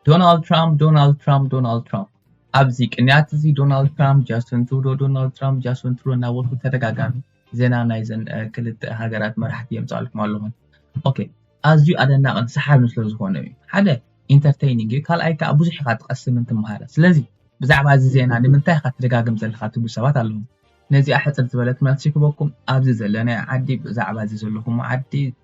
ዶናልድ ትራምፕ ዶናልድ ትራምፕ ዶናልድ ትራምፕ ኣብዚ ቅንያት እዚ ዶናልድ ትራምፕ ጃስን ትሩዶ ዶናልድ ትራምፕ ጃስን ትሩዶ እናበልኩ ተደጋጋሚ ዜና ናይዘን ክልተ ሃገራት መራሕቲ የምፃልኩም ኣለኹ ኦኬ ኣዝዩ ኣደናቕን ሰሓብን ስለ ዝኾነ እዩ ሓደ ኢንተርቴይኒንግ እዩ ካልኣይ ከዓ ብዙሕ ኢኻ ትቐስምን ትምሃረ ስለዚ ብዛዕባ እዚ ዜና ንምንታይ ኢኻ ትደጋግም ዘለካ ትብሉ ሰባት ኣለኹም ነዚኣ ሕፅር ዝበለት መልሲ ክበኩም ኣብዚ ዘለናዮ ዓዲ ብዛዕባ እዚ ዘለኹም ዓዲ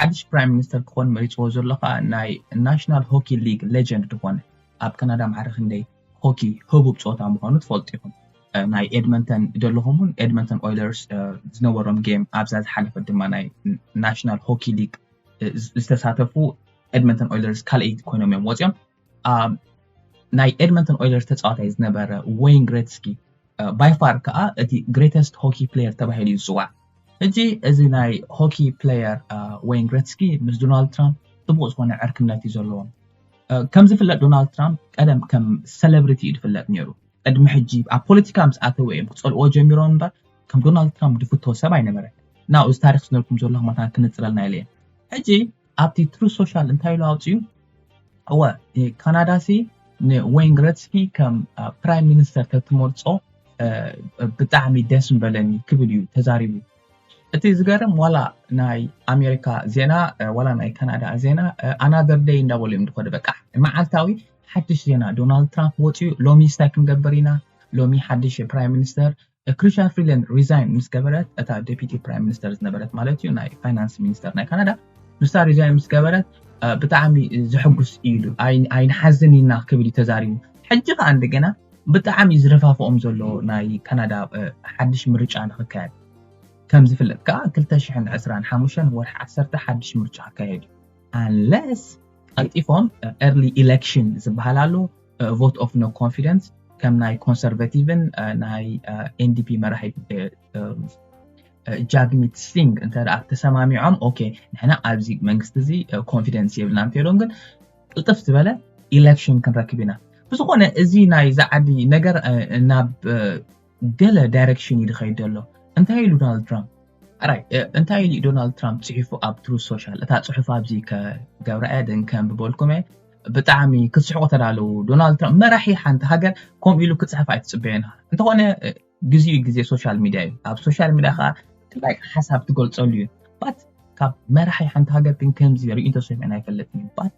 ሓድሽ ፕራይም ሚኒስተር ክኾን መሪጽዎ ዘሎ ከኣ ናይ ናሽናል ሆኪ ሊግ ሌጀንድ ዝኾነ ኣብ ካናዳ ማዕረ ክንደይ ሆኪ ህቡብ ጾታ ምዃኑ ትፈልጡ ኢኹም ናይ ኤድመንተን ደለኹም እውን ኤድመንተን ኦይለርስ ዝነበሮም ጌም ኣብዛ ዝሓለፈት ድማ ናይ ናሽናል ሆኪ ሊግ ዝተሳተፉ ኤድመንተን ኦይለርስ ካልኣይቲ ኮይኖም እዮም ወፂኦም ናይ ኤድመንተን ኦይለርስ ተፃዋታይ ዝነበረ ወይን ግሬትስኪ ባይፋር ከዓ እቲ ግሬተስት ሆኪ ፕሌየር ተባሂሉ እዩ ዝፅዋዕ ሕጂ እዚ ናይ ሆኪ ፕሌየር ወይን ግሬትስኪ ምስ ዶናልድ ትራምፕ ጥቡቅ ዝኾነ ዕርክነት እዩ ዘለዎም ከም ዝፍለጥ ዶናልድ ትራምፕ ቀደም ከም ሴሌብሪቲ እዩ ዝፍለጥ ነይሩ ቅድሚ ሕጂ ኣብ ፖለቲካ ምስ ኣተወ እዮም ክፀልዎ ጀሚሮም እምበር ከም ዶናልድ ትራምፕ ዝፍቶ ሰብ ኣይነበረን ናብኡ እዚ ታሪክ ዝነልኩም ዘለኹ መታን ክንፅለልና ኢለ ሕጂ ኣብቲ ትሩ ሶሻል እንታይ ኢሉ ኣውፅኡ እወ ካናዳ ሲ ንወይን ግረትስኪ ከም ፕራይም ሚኒስተር ተትመርፆ ብጣዕሚ ደስ ምበለኒ ክብል እዩ ተዛሪቡ እቲ ዝገርም ዋላ ናይ ኣሜሪካ ዜና ዋላ ናይ ካናዳ ዜና ኣናደር ደይ እንዳበሉ እዮም ዝኮዱ በቃ መዓልታዊ ሓድሽ ዜና ዶናልድ ትራምፕ ወፅኡ ሎሚ ስታይ ክንገብር ኢና ሎሚ ሓድሽ ፕራይም ሚኒስተር ክሪሻ ፍሪለን ሪዛይን ምስ ገበረት እታ ዴፒቲ ፕራይም ሚኒስተር ዝነበረት ማለት እዩ ናይ ፋይናንስ ሚኒስተር ናይ ካናዳ ንሳ ሪዛይን ምስ ገበረት ብጣዕሚ ዘሐጉስ እዩ ኢሉ ኣይንሓዝን ኢና ክብል ተዛሪቡ ሕጂ ከዓ እንደገና ብጣዕሚ ዝረፋፍኦም ዘሎ ናይ ካናዳ ሓድሽ ምርጫ ንክካየድ ከም ዝፍለጥ ከዓ 225 ወርሒ 1 ሓድሽ ምርጫ ክካየድ እዩ ኣንለስ ቀልጢፎም ኤርሊ ኢሌክሽን ዝበሃል ኣሎ ቮት ኦፍ ኖ ኮንፊደንስ ከም ናይ ኮንሰርቫቲቭን ናይ ኤንዲፒ መራሒ ጃግሚት ሲንግ እንተ ተሰማሚዖም ኦኬ ንሕና ኣብዚ መንግስቲ እዚ ኮንፊደንስ የብልና እንተኢሎም ግን ቅልጥፍ ዝበለ ኢሌክሽን ክንረክብ ኢና ብዝኾነ እዚ ናይ ዝዓዲ ነገር ናብ ገለ ዳይረክሽን እዩ ድኸይድ ዘሎ እንታይ ኢሉ ዶናልድ ትራምፕ ኣራይ እንታይ ኢሉ ዶናልድ ትራምፕ ጽሒፉ ኣብ ትሩ ሶሻል እታ ጽሑፍ ኣብዚ ከገብራ እያ ደን ከንብበልኩም እየ ብጣዕሚ ክትስሕቁ ተዳለዉ ዶናልድ ትራምፕ መራሒ ሓንቲ ሃገር ከምኡ ኢሉ ክጽሕፍ ኣይትጽበየን እንተኾነ ግዜኡ ግዜ ሶሻል ሚድያ እዩ ኣብ ሶሻል ሚድያ ከዓ ጥላይ ሓሳብ ትገልጸሉ እዩ ባት ካብ መራሒ ሓንቲ ሃገር ግን ከምዚ ርእንቶ ሰሚዕና ኣይፈለጥን እዩ ባት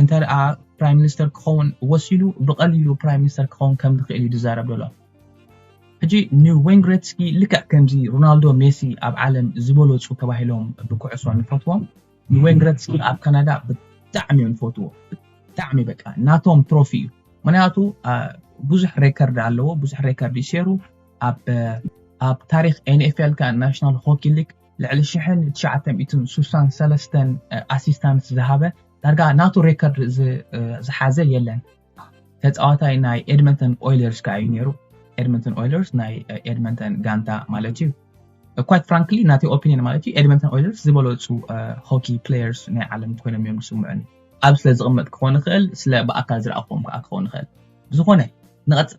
እንተ ፕራይም ሚኒስተር ክኸውን ወሲኑ ብቐሊሉ ፕራይም ሚኒስተር ክኸውን ከም ዝኽእል እዩ ዝዛረብ ዘሎ ሕጂ ንወይን ግሬትስኪ ልክዕ ከምዚ ሮናልዶ ሜሲ ኣብ ዓለም ዝበለፁ ተባሂሎም ብኩዕሶ ንፈትዎም ንወይን ግሬትስኪ ኣብ ካናዳ ብጣዕሚ እዮም ዝፈትዎ ብጣዕሚ በቃ ናቶም ትሮፊ እዩ ምክንያቱ ብዙሕ ሬከርድ ኣለዎ ብዙሕ ሬከርድ ይሰሩ ኣብ ኣብ ታሪክ ኤንኤፍኤል ከ ናሽናል ሆኪ ሊግ ልዕሊ ሽሕን ትሽዓተ ሚእትን ስሳን ሰለስተን ኣሲስታንስ ዝሃበ ዳርጋ ናቱ ሬከርድ ዝሓዘ የለን ተፃዋታይ ናይ ኤድመንተን ኦይለርስ ከዓ እዩ ነይሩ ኤድመንተን ኦይለርስ ናይ ኤድመንተን ጋንታ ማለት እዩ ኳይት ፍራንክሊ ናተይ ኦፒኒን ማለት እዩ ኤድመንተን ኦይለርስ ዝበለፁ ሆኪ ፕሌየርስ ናይ ዓለም ኮይኖም እዮም ዝስምዑኒ ኣብ ስለ ዝቕመጥ ክኾን ይኽእል ስለ ብኣካል ዝረኣኹዎም ከዓ ክኾን ይኽእል ብዝኾነ ንቐፅል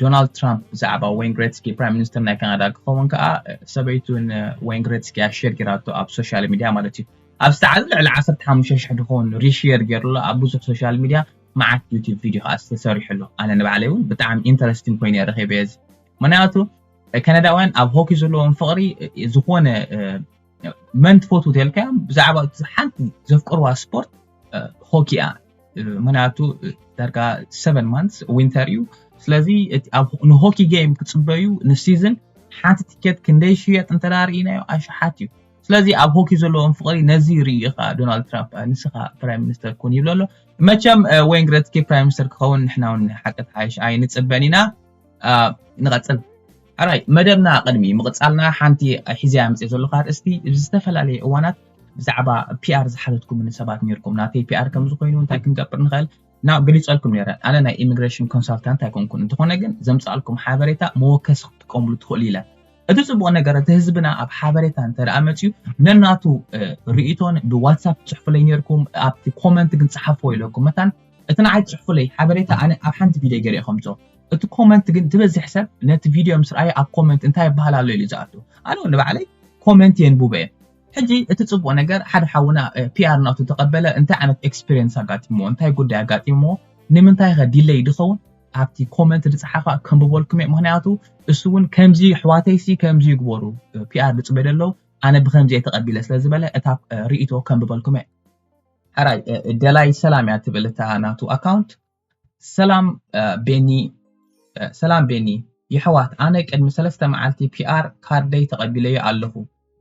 ዶናልድ ትራምፕ ብዛዕባ ወይን ግሬትስኪ ፕራይም ሚኒስተር ናይ ካናዳ ክኸውን ከዓ ሰበይቱ ንወይን ግሬትስኪ እያ ሼር ጌራቶ ኣብ ሶሻል ሚድያ ማለት እዩ ኣብ ዝተዓዘ ልዕሊ 15 ሽሕ ድኸውን ሪሼር ጌሩሎ ኣብ ብዙሕ ሶሻል ሚድያ መዓት ዩቲብ ቪድዮ ከዓ ዝተሰሪሑሎ ኣነ ንባዕለይ እውን ብጣዕሚ ኢንተረስቲንግ ኮይነ ረኺበ እዚ ምክንያቱ ከነዳውያን ኣብ ሆኪ ዘለዎም ፍቕሪ ዝኾነ መን ትፈትው ተልካያ ብዛዕባ ሓንቲ ዘፍቅርዋ ስፖርት ሆኪ እያ ምክንያቱ ዳርጋ ሰቨን ማንስ ዊንተር እዩ ስለዚ ንሆኪ ጌም ክፅበዩ ንሲዝን ሓንቲ ትኬት ክንደይ ሽየጥ እንተዳርኢናዮ ኣሽሓት እዩ ስለዚ ኣብ ሆኪ ዘለዎም ፍቕሪ ነዚ ርኢ ኢኻ ዶናልድ ትራምፕ ንስኻ ፕራይም ሚኒስተር ኩን ይብሎ ኣሎ መቸም ወይን ግረትኪ ፕራይም ሚኒስተር ክኸውን ንሕና ውን ሓቂ ተሓይሽ ኣይንፅበን ኢና ንቐጽል ኣራይ መደብና ቅድሚ ምቕጻልና ሓንቲ ሒዘያ ምጽ ዘለኹ ኣርእስቲ እዚ ዝተፈላለየ እዋናት ብዛዕባ ፒኣር ዝሓተትኩምን ሰባት ነርኩም ናተይ ፒኣር ከም ዝኾይኑ እንታይ ክንገብር ንኽእል ና ገሊጸልኩም ነረ ኣነ ናይ ኢሚግሬሽን ኮንሳልታንት ኣይኮንኩን እንተኾነ ግን ዘምጻልኩም ሓበሬታ መወከሲ ክትጥቀምሉ ትኽእሉ ኢለ እቲ ጽቡቕ ነገር እቲ ህዝብና ኣብ ሓበሬታ እንተ ደኣ መፅዩ ነናቱ ርእቶን ብዋትሳፕ ትጽሕፉለይ ነርኩም ኣብቲ ኮመንት ግን ጸሓፍዎ ኢለኩም መታን እቲ ንዓይ ጽሕፉለይ ሓበሬታ ኣነ ኣብ ሓንቲ ቪድዮ ገሬ ኣከምጾ እቲ ኮመንት ግን ትበዝሕ ሰብ ነቲ ቪድዮ ምስ ርኣዮ ኣብ ኮመንት እንታይ ይብሃል ኣሎ ኢሉ ዝኣቱ ኣነ ውን ንባዕለይ ኮመንት የንቡበ እየ ሕጂ እቲ ጽቡቅ ነገር ሓደ ሓውና ፒኣር ናቱ ተቀበለ እንታይ ዓይነት ኤክስፒሪየንስ ኣጋጢምዎ እንታይ ጉዳይ ኣጋጢምዎ ንምንታይ ከ ዲለይ ድኸውን ኣብቲ ኮመንት ዝጸሓፋ ከንብበልኩም እየ ምክንያቱ እሱ እውን ከምዚ ኣሕዋተይሲ ከምዚ ይግበሩ ፒኣር ዝጽበዩ ኣለዉ ኣነ ብከምዚ እየ ተቐቢለ ስለ ዝበለ እታ ርእቶ ከንብበልኩም እየ ሕራይ ደላይ ሰላም እያ ትብል እታ ናቱ ኣካውንት ሰላም ቤኒ ሰላም ቤኒ የሕዋት ኣነ ቅድሚ ሰለስተ መዓልቲ ፒኣር ካርደይ ተቐቢለዮ ኣለኹ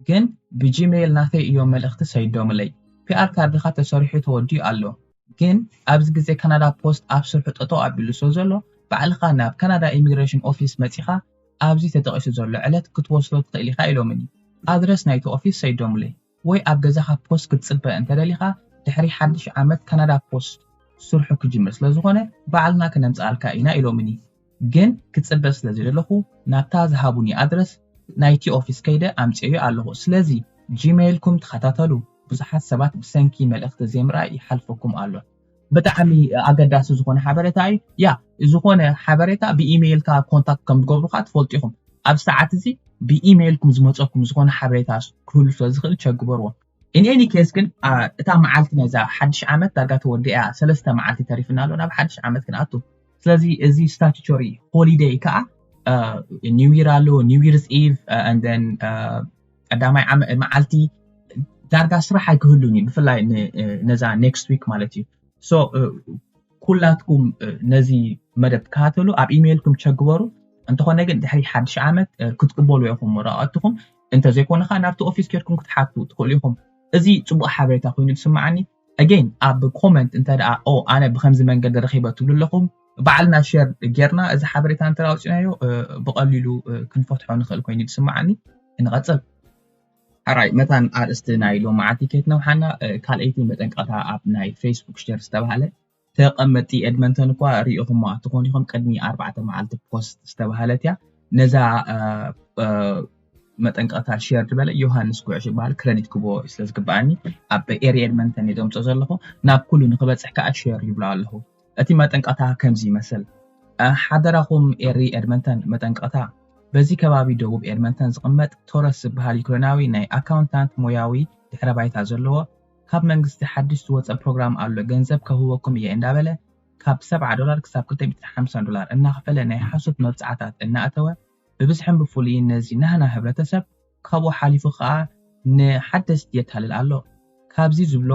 ግን ብጂሜይል ናተይ እዮም መልእኽቲ ሰይዶምለይ ፒኣር ካርድኻ ተሰሪሑ ተወዲኡ ኣሎ ግን ኣብዚ ግዜ ካናዳ ፖስት ኣብ ስርሑ ጠጠው ኣቢሉ ስለ ዘሎ ባዕልኻ ናብ ካናዳ ኢሚግሬሽን ኦፊስ መጺኻ ኣብዚ ተጠቒሱ ዘሎ ዕለት ክትወስዶ ትኽእል ኢኻ ኢሎምኒ ኣድረስ ናይቲ ኦፊስ ሰይዶምለይ ወይ ኣብ ገዛኻ ፖስት ክትጽበ እንተደሊኻ ድሕሪ ሓድሽ ዓመት ካናዳ ፖስት ስርሑ ክጅምር ስለዝኾነ ባዕልና ክነምጽኣልካ ኢና ኢሎምኒ ግን ክጽበ ስለዘይደለኹ ናብታ ዝሃቡኒ ኣድረስ ናይቲ ኦፊስ ከይደ ኣምጺኤዮ ኣለኹ ስለዚ ጂመይልኩም ተኸታተሉ ብዙሓት ሰባት ብሰንኪ መልእኽቲ ዘይምርኣይ ይሓልፈኩም ኣሎ። ብጣዕሚ ኣገዳሲ ዝኾነ ሓበሬታ እዩ ያ ዝኾነ ሓበሬታ ብኢሜይልካ ኮንታክት ከም ዝገብሩካ ትፈልጡ ኢኹም ኣብ ሰዓት እዚ ብኢሜይልኩም ዝመፀኩም ዝኾነ ሓበሬታ ክህሉ ስለ ዝኽእል ቸግበርዎ ኢን ኤኒ ኬስ ግን እታ መዓልቲ ናይዛ ሓድሽ ዓመት ዳርጋ ተወዲኣ ሰለስተ መዓልቲ ተሪፍና ኣሎ ናብ ሓድሽ ዓመት ክንኣቱ ስለዚ እዚ ስታቱቶሪ ሆሊደይ ከዓ ኒው ይር ኣሎ ኒው ይርስ ኢቭ ን ቀዳማይ መዓልቲ ዳርጋ ስራሕ ኣይክህሉን እዩ ብፍላይ ነዛ ኔክስት ዊክ ማለት እዩ ሶ ኩላትኩም ነዚ መደብ ትከታተሉ ኣብ ኢሜይልኩም ቸግበሩ እንተኾነ ግን ድሕሪ ሓድሽ ዓመት ክትቅበሉ ኢኹም ወረቐትኹም እንተዘይኮነ ከዓ ናብቲ ኦፊስ ኬድኩም ክትሓቱ ትኽእሉ ኢኹም እዚ ፅቡቅ ሓበሬታ ኮይኑ ዝስማዓኒ ኣገይን ኣብ ኮመንት እንተ ደኣ ኦ ኣነ ብከምዚ መንገዲ ረኺበ ትብሉ ኣለኹም ባዕልና ሸር ጌርና እዚ ሓበሬታ እንተ ኣውፅናዮ ብቐሊሉ ክንፈትሖ ንኽእል ኮይኑ ዝስምዓኒ ንቐፅል ሕራይ መታን ኣርእስቲ ናይ ሎመዓልቲ ከይትነውሓና ካልኣይቲ መጠንቀቕታ ኣብ ናይ ፌስቡክ ሸር ዝተባሃለ ተቐመጥቲ ኤድመንተን እኳ ርኢኹማ ትኾኑ ኢኹም፣ ቅድሚ ኣርባዕተ መዓልቲ ፖስት ዝተባህለት እያ ነዛ መጠንቀቕታ ሼር ዝበለ ዮሃንስ ጉዕሽ ይበሃል ክረዲት ክቦ ስለ ዝግብኣኒ ኣብ ኤሪ ኤድመንተን እየ ዘምፆ ዘለኹ ናብ ኩሉ ንክበፅሕ ከዓ ሼር ይብሎ ኣለኹ እቲ መጠንቀቕታ ከምዚ ይመስል ሓደራኹም ኤሪ ኤድመንተን መጠንቀቕታ በዚ ከባቢ ደቡብ ኤድመንተን ዝቕመጥ ቶረስ ዝበሃል ዩክሬናዊ ናይ ኣካውንታንት ሞያዊ ድሕረ ባይታ ዘለዎ ካብ መንግስቲ ሓድሽ ዝወጸ ፕሮግራም ኣሎ ገንዘብ ከህበኩም እየ እንዳበለ ካብ ሰብዓ ዶላር ክሳብ ክልተ ሚእትን ሓምሳን ዶላር እናኽፈለ ናይ ሓሶት መብጽዓታት እናእተወ ብብዝሕን ብፍሉይን ነዚ ናህና ህብረተሰብ ካብኡ ሓሊፉ ከኣ ንሓደስቲ የታልል ኣሎ ካብዚ ዝብሎ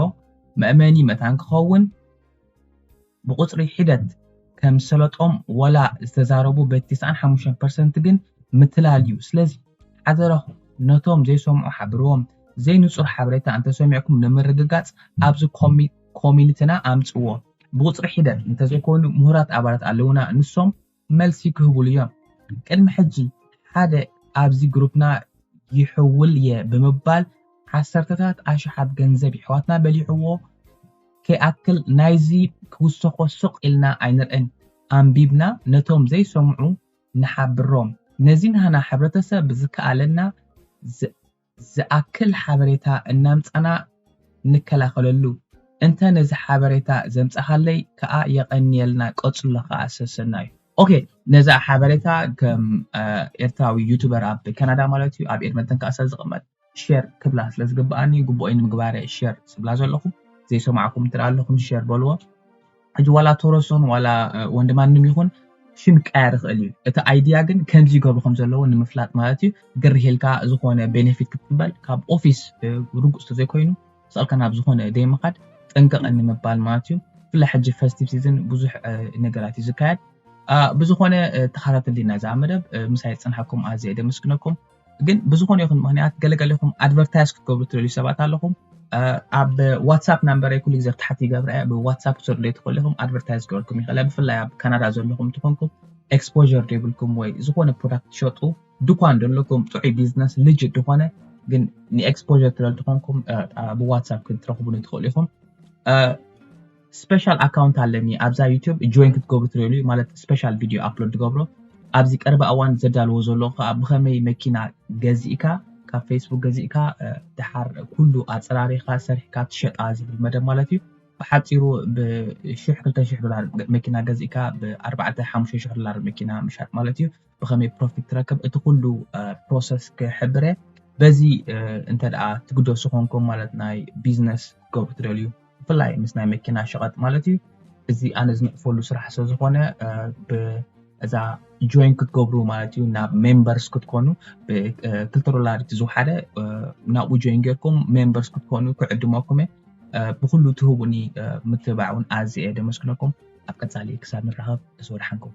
መእመኒ መታን ክኸውን ብቁጽሪ ሒደት ከም ዝሰለጦም ወላ ዝተዛረቡ በቲ ተስዓን ሓሙሽተን ፐርሰንት ግን ምትላል ዩ ስለዚ ሓደራኹም ነቶም ዘይሰምዑ ሓብርዎም ዘይንጹር ሓበሬታ እንተሰሚዕኩም ንምርግጋጽ ኣብዚ ኮሚኒትና ኣምጽዎ ብቁጽሪ ሒደት እንተዘይኮይኑ ምሁራት ኣባላት ኣለውና ንሶም መልሲ ክህቡሉ እዮም። ቅድሚ ሕጂ ሓደ ኣብዚ ግሩፕና ይሕውል'የ ብምባል ዓሰርተታት ኣሽሓት ገንዘብ የሕዋትና በሊዕዎ ከይኣክል ናይዚ ክውሰኾ ስቕ ኢልና ኣይንርእን። ኣንቢብና ነቶም ዘይሰምዑ ንሓብሮም። ነዚ ናህና ሕብረተሰብ ብዝከኣለና ዝኣክል ሓበሬታ እናምጻና ንከላኸለሉ። እንተ ነዚ ሓበሬታ ዘምጻኻለይ ክኣ የቐንየልና ቀጽሎ ክኣ ሰሰናዩ። ኦኬ ነዛ ሓበሬታ ከም ኤርትራዊ ዩቱበር ኣብ ካናዳ ማለት እዩ ኣብ ኤድመንተን ክኣ ስለ ዝቕመጥ ሼር ክብላ ስለ ዝግብኣኒ ግቡኦይ ንምግባር እየ ሼር ዝብላ ዘለኹ ዘይሰማዕኩም እንተ ኣለኹም ሼር በልዎ። ሕጂ ዋላ ቶሮሶን ዋላ ወንድማንም ይኹን ሽም ክቀያየር ይኽእል እዩ እቲ ኣይድያ ግን ከምዚ ይገብሩ ከም ዘለዎ ንምፍላጥ ማለት እዩ ግርህ ኢልካ ዝኾነ ቤኔፊት ክትቅበል ካብ ኦፊስ ርጉፅ ተዘይኮይኑ ስቕልካ ናብ ዝኾነ ዘይምኻድ ጥንቅቕ ንምባል ማለት እዩ ብፍላይ ሕጂ ፈስቲቭ ሲዝን ብዙሕ ነገራት እዩ ዝካየድ ብዝኾነ ተኸታተልና እዛ መደብ ምሳይ ዝፅንሓኩም ኣዝየ ደመስግነኩም ግን ብዝኾነ ይኹን ምክንያት ገለገለኹም ኣድቨርታይዝ ክትገብሩ ትደልዩ ሰባት ኣለኹም ኣብ ዋትሳፕ ናምበረይ ኩሉ ግዜ ታሕቲ ይገብረ እያ ብዋትሳፕ ክትሰዱለይ ትኽእሉ ኢኹም ኣድቨርታይዝ ክበልኩም ይኽእለ ብፍላይ ኣብ ካናዳ ዘለኹም ትኾንኩም ኤክስፖር ዘይብልኩም ወይ ዝኾነ ፕሮዳክት ትሸጡ ድኳን ዘለኩም ጥዑይ ቢዝነስ ልጅ ዝኾነ ግን ንኤክስፖር ትደል ትኾንኩም ብዋትሳፕ ክትረኽቡኒ ትኽእሉ ኢኹም ስፐሻል ኣካውንት ኣለኒ ኣብዛ ዩቲዩብ ጆይን ክትገብሩ ትሪእሉ እዩ ማለት ስፐሻል ቪድዮ ኣፕሎድ ትገብሮ ኣብዚ ቀረባ እዋን ዘዳልዎ ዘለኹ ከዓ ብኸመይ መኪና ገዚእካ ካብ ፌስቡክ ገዚእካ ድሓር ኩሉ ኣፀራሪኻ ሰሪሕካ ትሸጣ ዝብል መደብ ማለት እዩ ብሓፂሩ ብሽሕ ክልተ ሽሕ ዶላር መኪና ገዚእካ ብኣርባዕተ ሓሙሽተ ሽሕ ዶላር መኪና ምሻጥ ማለት እዩ ብከመይ ፕሮፊት ትረክብ እቲ ኩሉ ፕሮሰስ ክሕብረ በዚ እንተ ትግደሱ ኮንኩም ማለት ናይ ቢዝነስ ክገብሩ ትደልዩ ብፍላይ ምስ ናይ መኪና ሸቐጥ ማለት እዩ እዚ ኣነ ዝንዕፈሉ ስራሕ ስለ ዝኾነ እዛ ጆይን ክትገብሩ ማለት እዩ ናብ ሜምበርስ ክትኮኑ ብክልተ ዶላር እቲ ዝውሓደ ናብኡ ጆይን ጌርኩም ሜምበርስ ክትኮኑ ክዕድመኩም እየ ብኩሉ ትህቡኒ ምትብባዕ እውን ኣዝየ ደመስግነኩም ኣብ ቀፃሊ ክሳብ ንራኸብ ተሰወድሓንኩም